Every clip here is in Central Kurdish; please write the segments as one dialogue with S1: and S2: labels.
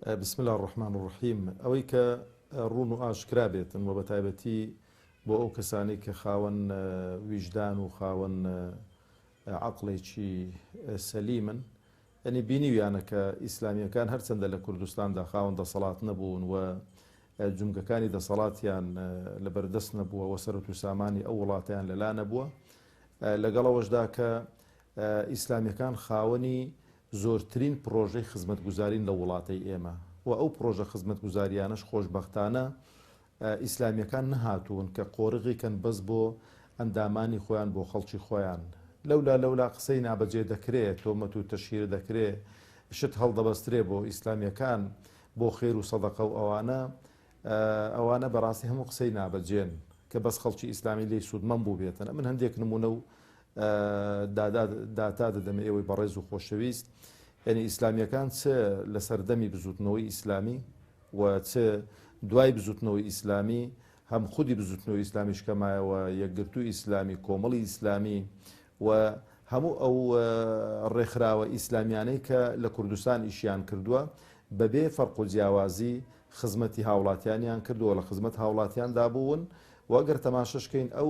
S1: بسم اللە الرحمن الرحیم ئەوەی کە ڕوون و ئاشکرا بێتن وە بەتایبەتی بۆ ئەو کەسانەی کە خاوەن ویژدان و خاوەن عقلێکی سەلیمن ئەنی بینیویانە کە ئیسلامیەکان هەرچەندە لە کوردستاندا خاوەن دەسەڵات نەبوون و جمگەکانی دەسەڵاتیان لە بەردەست نەبووە وە سەرەت و سامانی ئەو وڵاتیان لەلا نەبووە لەگەڵەوەشدا کە ئیسلامیەکان خاوەنی زۆرترین پڕۆژەی خزمەتگوزارین لە وڵاتەی ئێمە و ئەو پڕۆژە خزمەتگوزارییانەش خۆشبەختانە ئیسلامییەکان نەهاتوون کە قۆرغی کەن بەس بۆ ئەندامانی خۆیان بۆ خەڵکی خۆیان لەولا لەولا قسەی نابەجێ دەکرێ تۆمەت و تەشهیر دەکرێ شت هەڵدەبەسترێ بۆ ئیسلامییەکان بۆ خێر و سەدەقە و ئەوانە ئەوانە بەڕاستی هەموو قسەی نابەجێن کە بەس خەڵکی ئیسلامی لێی سوودمەند بووبێتن ئەمن هەندێک نموونە و دادا داتا دەدەمە ئێوەی بەڕێز و خۆشەویست یعنی ئیسلامیەکان چ لە سەردەمی بزوتنەوەی ئیسلامی و چ دوای بزوتنەوەی ئیسلامی هەم خودی بزوتنەوەی ئیسلامیش کەمایەوە یەکگرتو ئیسلامی کۆمەڵی ئیسلامی و هەموو ئەو ڕێکخراوە ئیسلامیانەی کە لە کوردستان ئیشیان کردووە بەبێ فەرق و جیاوازی خزمەتی هاوڵاتیانیان کردووە لە خزمەت هاوڵاتیاندا بوون وەگەر تەماشەشکەین ئەو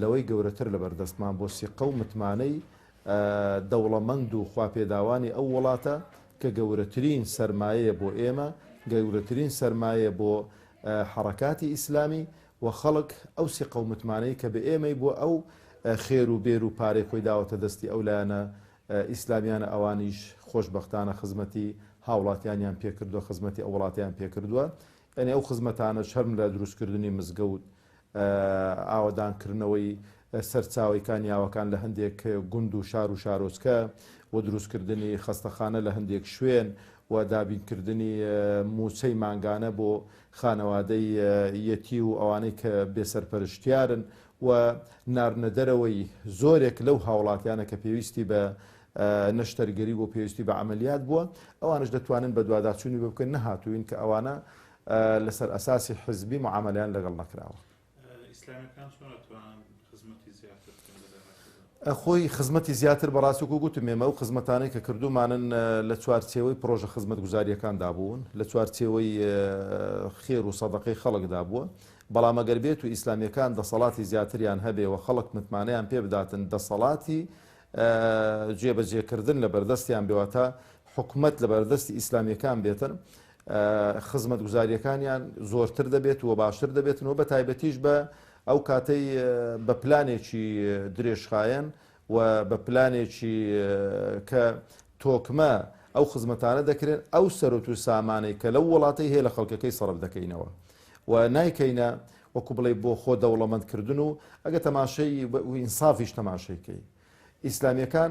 S1: لەوەی گەورەتر لەبەردەستمان بۆ سیقە و متمانەی دەوڵەمەند و خواپێداوانی ئەو وڵاتە کە گەورەترین سەرمایەیە بۆ ئێمە، گەورەترین سەرمایەیە بۆ حەڕەکاتی ئیسلامی و خەڵک ئەو سیقە و متمانەی کە بەئێمەی بۆ ئەو خێر و بێر و پارەی خۆی داوەتە دەستی ئەو لایەنە ئیسلامیانە ئەوانیش خۆشبەختانە خزمەتی هاوڵاتیانیان پێکردوە خزمەتی ئەو وڵاتەیان پێکردوە یانی ئەو خزمەتانەش هەر لە دروستکردنی مزگەوت ئاوەدانکردنەوەی سەرچاوەی کانیاوەکان لە هەندێک گوند و شار و شارۆچکە و دروستکردنی خەستەخانە لە هەندێک شوێن و دابینکردنی مووچەی مانگانە بۆ خانەوادەی یەتی و ئەوانەی کە بێ سەرپەرشتیارن و ناردنەدەرەوەی زۆرێک لەو هاوڵاتیانە کە پێویستی بە نەشتەرگەری بۆ پێویستی بە عەمەلیات بووە ئەوانش دەتوانن بەدواداچوونی بۆ بکەن نەهاتووین کە ئەوانە لەسەر ئەساسی حزبی معامەلەیان لەگەڵ نەکراوە. ئیسلامیەکان چۆن ئەتوانن خزمەتی زیاتر بکەن لە داهاتوودا؟ خۆی خزمەتی زیاتر بەڕاستی وەکو گوتم ئێمە ئەو خزمەتانەی کە کردوومانن لە چوارچێوەی پڕۆژە خزمەتگوزارییەکاندا بوون، لە چوارچێوەی خێر و سەدەقەی خەڵکدا بووە، بەڵام ئەگەر بێتو ئیسلامیەکان دەسەڵاتی زیاتریان هەبێ و خەڵک متمانەیان پێ بداتن دەسەڵاتی جێبەجێکردن لەبەردەستیان بێ واتە حکومەت لەبەردەستی ئیسلامیەکان بێتن خزمەتگوزارییەکانیان زۆرتر دەبێت و باشتر دەبێتن و بە تایبەتیش بە ئەو کاتەی بە پلانێکی درێژخایەن و بە پلانێکی کە تۆکمە ئەو خزمەتانە دەکرێن ئەو سەرۆت و سامانەی کە لەو وڵاتەی هەیە لە خەڵکەکەی سەرف دەکەینەوە و نایکەینە وەکو بڵێ بۆ خۆ دەوڵەمەندکردن و ئەگە تەماشەی ئینسافیش تەماشەیکەی ئیسلامیەکان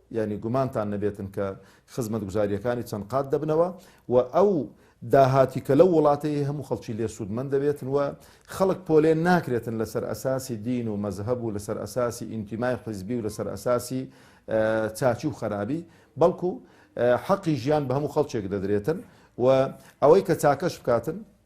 S1: یانی گومانتان نەبێتن کە خزمەتگوزارییەکانی چەند قات دەبنەوە و ئەو داهاتی کە لەو وڵاتەی هەیە هەموو خەڵکی لێ سوودمەند دەبێتن و خەڵک پۆلێن ناکرێتن لەسەر ئەساسی دین و مەزهەب و لەسەر ئەساسی ئینتیمای حزبی و لەسەر ئەساسی چاچی و خەرابی بەڵکو حەقی ژیان بە هەموو خەڵکێک دەدرێتن و ئەوەی کە چاکەش بکاتن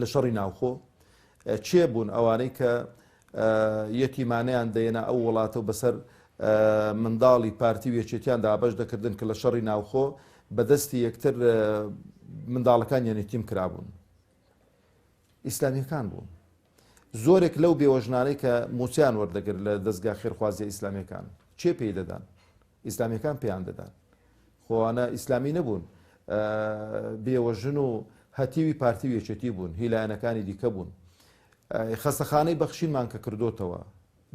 S1: لە شەڕی ناوخۆ کێ بوون ئەوانەی کە یەتیمانیان دەێنا ئەو وڵاتە و بەسەر منداڵی پارتی و یەکێتیان دابش دەکردن کە لە شەڕی ناوخۆ بەدەستی یەکتر منداڵەکان یەنێتیم کرابوون ئیسلامیەکان بوون زۆرێک لەو بێوەژنانەی کە موچیان وەردەگر لە دەستگا خێرخوازیە ئیسلامیەکان چێ پێی دەدان ئیسلامیەکان پێیان دەدان خۆ ئەوانە ئیسلامی نەبوون بێوەژن و هەتیوی پارتی و یەکێتی بوون هی لایەنەکانی دیکە بوون خەستەخانەی بەخشینمان کە کردوتەوە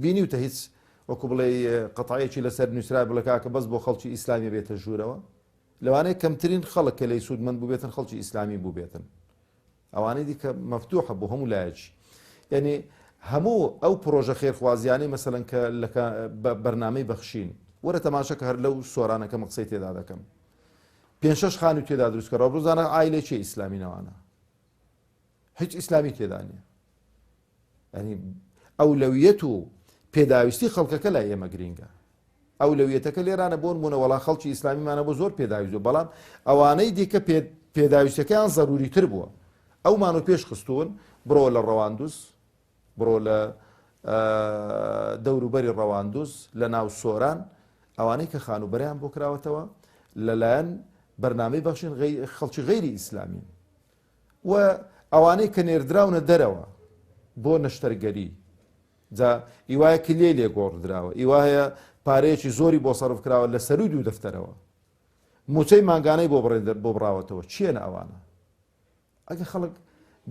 S1: بینیوتە هیچ وەکو بڵێ قەتعەیەکی لەسەر نووسرا بڵکاکە بەس بۆ خەڵکی ئیسلامی بێتە ژوورەوە لەوانەیە کەمترین خەڵک کە لی سوودمەند بووبێتن خەڵکی ئیسلامی بووبێتن ئەوانەی دیکە مەفتوحە بۆ هەموو لایەکی یەنی هەموو ئەو پرۆژە خێرخوازیانەی مەسەلەن کە لەکە بەرنامەی بەخشین وەرە تەماشە کە هەر لەو سۆرانەکە مەقسەی تێدا دەکەم پێ شش خانی تێدا دروستکە ڕەبزانە ئایلێکی ئیسلامی نەوانە هیچ ئیسلامی تێدانە یانی ئەولەویەت و پێداویستی خەڵکەکە لای ئێمە گرینگە ئەولەویەتەکە لێرانە بۆن بوونە وەڵا خەڵکی ئیسلامیمانە بۆ زۆر پێداویزو بەڵام ئەوانەی دیکە پێداویستەکەیان زەروری تر بووە ئەومان و پێش خستون بڕۆ لە ڕەواندوز بڕۆ لە دەوروبەری ڕەواندوز لە ناو سۆران ئەوانەی کە خانوبەریان بۆ کراوەتەوە لەلایەن بەرنامەی بەخشین خەڵکی غیری ئیسلامین و ئەوانەی کە نێردراونە دەرەوە بۆ نەشتەرگەری جا ئیوایە کلیەی لێ گۆڕدراوە ئیوایە پارەیەکی زۆری بۆ سەرف کراوە لە سەروی دوو دەفتەرەوە موچەی مانگانەی بۆ بڕێن بۆ بڕاوەتەوە چیەنە ئەوانە ئەگە خەڵک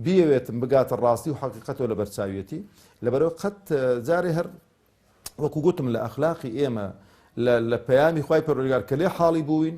S1: بیەوێتم بگاتە ڕاستی و حقیقەتەوە لە بەرچاویەتی لەبەرەوە قەت جارێ هەر وەکو گوتم لە ئەخلاقی ئێمە لە پەیامی خی پەرۆگار کە لێ حاڵی بووین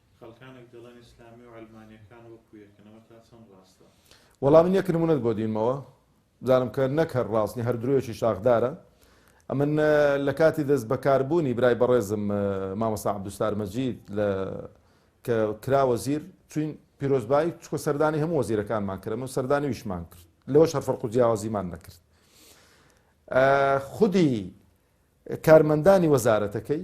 S1: خەڵکانێک دەڵێن ئیسلامی و عەلمانیەکان وەکو یەکن ئەمە تا چەند ڕاستە؟ وەڵا من یەک نمونەت بۆ دینمەوە بزانم کە نەک هەر ڕاست نیە هەر درۆیەکی شاخدارە ئەمن لە کاتی دەست بەکاربوونی برای بەڕێزم مامەسا عبدوستار مەجید لە کە کرا وەزیر چوین پیرۆزبایی چکە سەردانی هەموو وەزیرەکانمان کرد من سەردانی ویشمان کرد لەوە شەرفەرق و جیاوازیمان نەکرد خودی کارمەندانی وەزارەتەکەی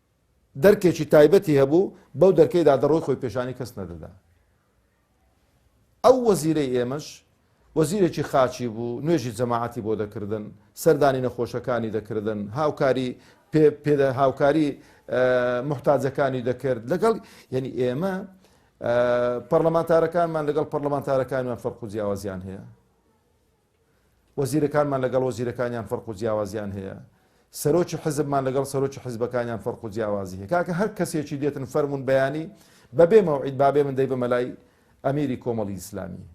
S1: دەرکێکی تایبەتی هەبوو بەو دەرکەیدا دەڕۆی خۆی پێشانی کەس نەدەدا ئەو وەزیرەی ئێمەش وەزیرێکی خاچی بوو نوێژی جەماعەتی بۆ دەکردن سەردانی نەخۆشەکانی دەکردن هاوکاری پێدا هاوکاری محتاجەکانی دەکرد لەگەڵ یعنی ئێمە پەرلەمانتارەکانمان لەگەڵ پەرلەمانتارەکانمان فەرق و جیاوازیان هەیە وەزیرەکانمان لەگەڵ وەزیرەکانیان فەرق و جیاوازیان هەیە، سەرۆکی حزبمان لەگەڵ سەرۆکی حزبەکانیان فەرق و جیاوازی هەیە، کاکە هەر کەسێکی دێتن فەرموون بەیانی بە بێ مەوعید با بێ من دەیبەمە لای ئەمیری کۆمەڵی ئیسلامی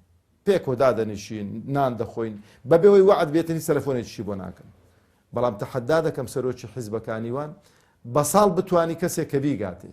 S1: پێکەوە دادەنیشین نان دەخۆین بە بێ وەی وەعد بێتنی سەلەفۆنێکیشی بۆ ناکەم بەڵام تەحەدا دەکەم سەرۆکی حزبەکانیوان بە ساڵ بتوانی کەسێک کە بیگاتێ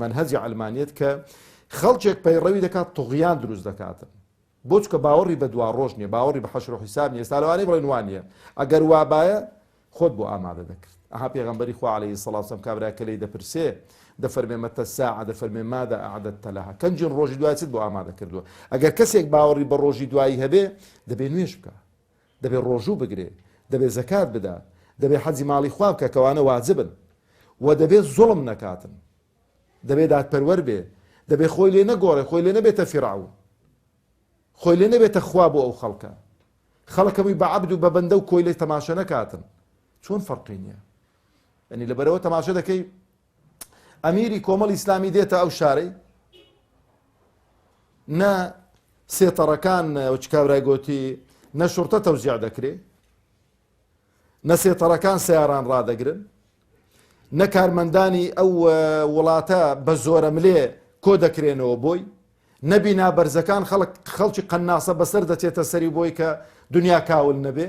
S1: مەنهەجی عەلمانیەت کە خەڵکێک پەیڕەوی دەکات طغیان دروست دەکاتن بۆ چکە باوەڕی بە دوا ڕۆژ نیە باوەڕی بە حەشر و حیساب نیە ئێستا لەوانەیە بڵێن وان نیە ئەگەر وابایە خۆت بۆ ئامادە دەکرد ئەها پێغەمبەری خوا عەلەیهی سەڵات وسەلام کابرا کە لێی دەپرسێ دەفەرمێ مەتە الساعە دەفەرمێ مادا ئەعدەدتە لەها کەنجین ڕۆژی دوای چت بۆ ئامادە کردووە ئەگەر کەسێک باوەڕی بە ڕۆژی دوایی هەبێ دەبێ نوێژ بکا دەبێ ڕۆژوو بگرێ، دەبێ زەکات بدا، دەبێ حەجی ماڵی خوا بکا کەوانە واجبن، وە دەبێ زوڵم نەکاتن، دەبێ دادپەروەر بێ، دەبێ خۆی لێ نەگۆڕێ، خۆی لێ نەبێتە فیرعەون، خۆی لێ نەبێتە خوا بۆ ئەو خەڵکە، خەڵک هەمووی بە عەبد و بە بەندە و کۆیلە تەماشە نەکاتن، چۆن فەرقی نیە؟ یانی لەبەرئەوە تەماشە دەکەی ئەمیری کۆمەڵی ئیسلامی دێتە ئەو شارەی نە سێتەڕەکان چکاورای گوتی نە شورتە تەوزیع دەکرێ نە سێتەڕەکان سیاران ڕدەگرن نە کارمەندانی ئەو وڵاتە بە زۆرە ملێ کۆ دەکرێنەوە بۆی نەبی نابەرزەکان خەڵک خەڵکی قەناسە بەسەر دەچێتە سەری بۆی کە دنیا کاول نەبێ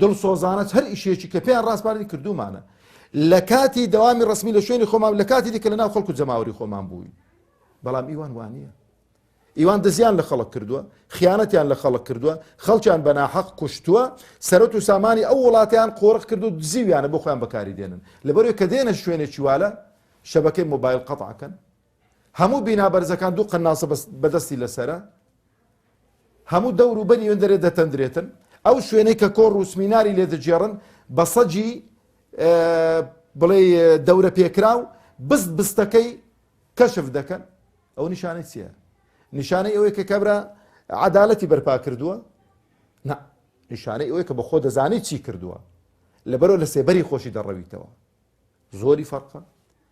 S1: دڵسۆزانەش هەر ئیشێکی کە پێیان ڕاسپاردین کردوومانە. لە کاتی دەوامی ڕەسمی لە شوێنی خۆمان لە کاتی دیکە لەناو خەڵک و جەماوەری خۆمان بووین. بەڵام ئیوان وانە. ئیوان دزیان لە خەڵک کردووە، خیانەتیان لە خەڵک کردووە، خەڵکیان بە ناحەق کوشتووە، سەرەت و سامانی ئەو وڵاتیان قۆرخ کرد و دزیویانە بۆ خۆیان بەکاری دێنن. لەبەرئەوەی کە دێنە شوێنێکی والە شەبەکەی مۆبایل قەتعکەن. هەموو بینا بەرزەکان دوو قەنناسە بەدەستی لەسەرە، هەموو دەور و بەری وێندەرێ دەتەندرێتن، ئەو شوێنەی کە کۆڕ و سمیناری لێ دەگێڕن بە سەگی بڵێ دەورە پێکراو بست بستەکەی کەشف دەکەن، ئەو نیشانەی چییە؟ نیشانەی ئەوەیە کە کابرا عەدالەتی بەرپا کردووە؟ نا، نیشانەی ئەوەیە کە بەخۆ دەزانی چی کردووە، لەبەرەوە لە سێبەری خۆشی دەڕەویتەوە. زۆری فەرقە،